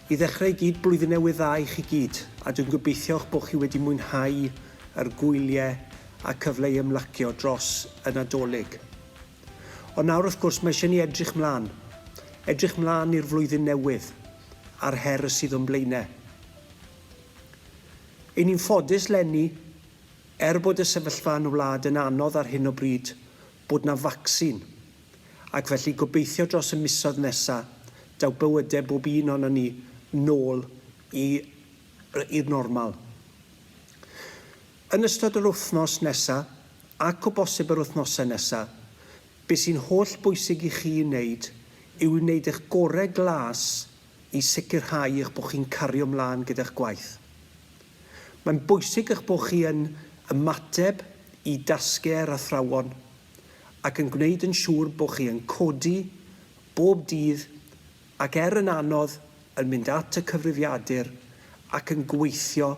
I ddechrau i gyd, Blwyddyn Newydd Dda i chi gyd, a dwi'n gobeithio'ch bod chi wedi mwynhau yr gwyliau a cyfle i ymlacio dros y Nadolig. Ond nawr wrth gwrs mae eisiau ni edrych mlaen, edrych mlaen i'r flwyddyn newydd a'r her y sydd o'n blaenau. Ein ni'n ffodus 'lenni Er bod y sefyllfa yn y wlad yn anodd ar hyn o bryd, bod 'na facsin, ac felly gobeithio dros y misoedd nesa', daw bywyde bob un ohonon ni nôl i i'r normal. Yn ystod yr wythnos nesa', ac o bosib yr wythnose nesa', be' sy'n holl bwysig i chi 'i neud yw i wneud eich gore' glas i sicrhau eich bod chi'n cario mlaen gyda'ch gwaith. Mae'n bwysig eich bod chi yn ymateb i dasgau'r athrawon ac yn gwneud yn siŵr bod chi yn codi bob dydd ac er yn anodd yn mynd at y cyfrifiadur ac yn gweithio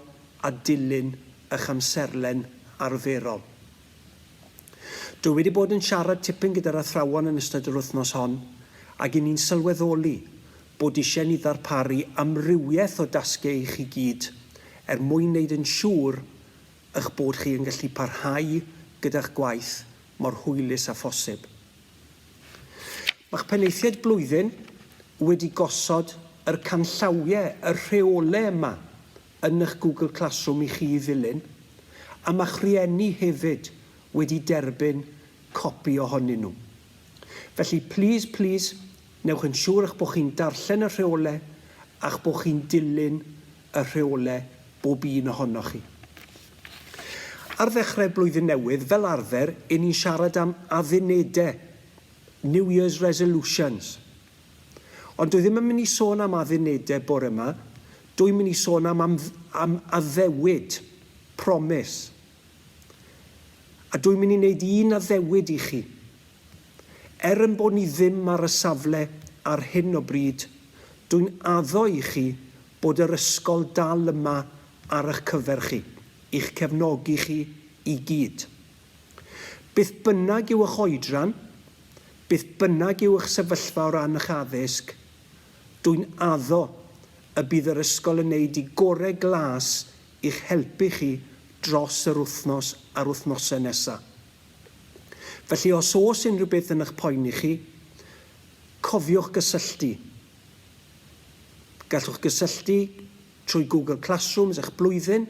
a dilyn eich amserlen arferol. Dw i wedi bod yn siarad tipyn gyda'r athrawon yn ystod yr wythnos hon ac i ni'n sylweddoli bod isie ni ddarparu amrywiaeth o dasgiau i chi gyd er mwyn neud yn siŵr ych bod chi yn gallu parhau gyda'ch gwaith mor hwylus a phosib. Mae'ch penaethiaid blwyddyn wedi gosod yr canllawie, y rheole yma yn eich Google Classroom i chi ddilyn, a ma'ch rhieni hefyd wedi derbyn copi ohonyn nhw. Felly, plîs, plîs, newch yn siŵr eich bod chi'n darllen y rheolau a'ch bod chi'n dilyn y rheolau, bob un ohonoch chi. Ar ddechrau blwyddyn newydd, fel arfer, 'yn ni'n siarad am addunedau, New Year's Resolutions. Ond dw i ddim yn mynd i sôn am addunedau bore yma, dw i'n mynd i sôn am, am, am addewid, promis. A dw i'n mynd i wneud un addewid i chi. Er yn bod ni ddim ar y safle ar hyn o bryd, dw i'n addo i chi bod yr ysgol dal yma ar eich cyfer chi, i'ch cefnogi chi i gyd. Beth bynnag yw eich oedran, beth bynnag yw eich sefyllfa o ran eich addysg, dwy'n addo y bydd yr ysgol yn neud i gore glas i'ch helpu chi dros yr wythnos a'r wythnose nesa. Felly os oes unrhyw beth yn eich poeni chi, cofiwch gysylltu. Gallwch gysylltu trwy Google Classrooms eich blwyddyn,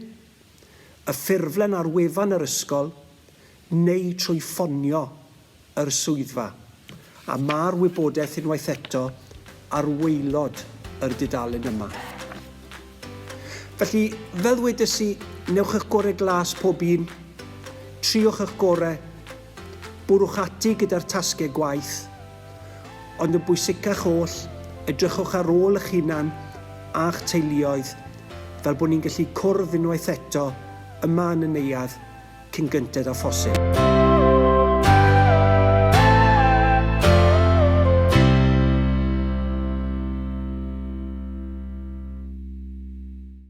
y ffurflen ar wefan yr ysgol neu trwy ffonio yr swyddfa, a ma'r wybodaeth unwaith eto ar waelod yr dudalen yma. Felly, fel ddwedes i, newch eich gore glas pob un, triwch eich gore, bwrwch ati gyda'r tasge gwaith, Ond yn bwysicach oll, edrychwch ar ôl eich hunan a'ch teuluoedd, fel bod ni'n gallu cwrdd unwaith eto yma yn y neuadd cyn gynted â phosib.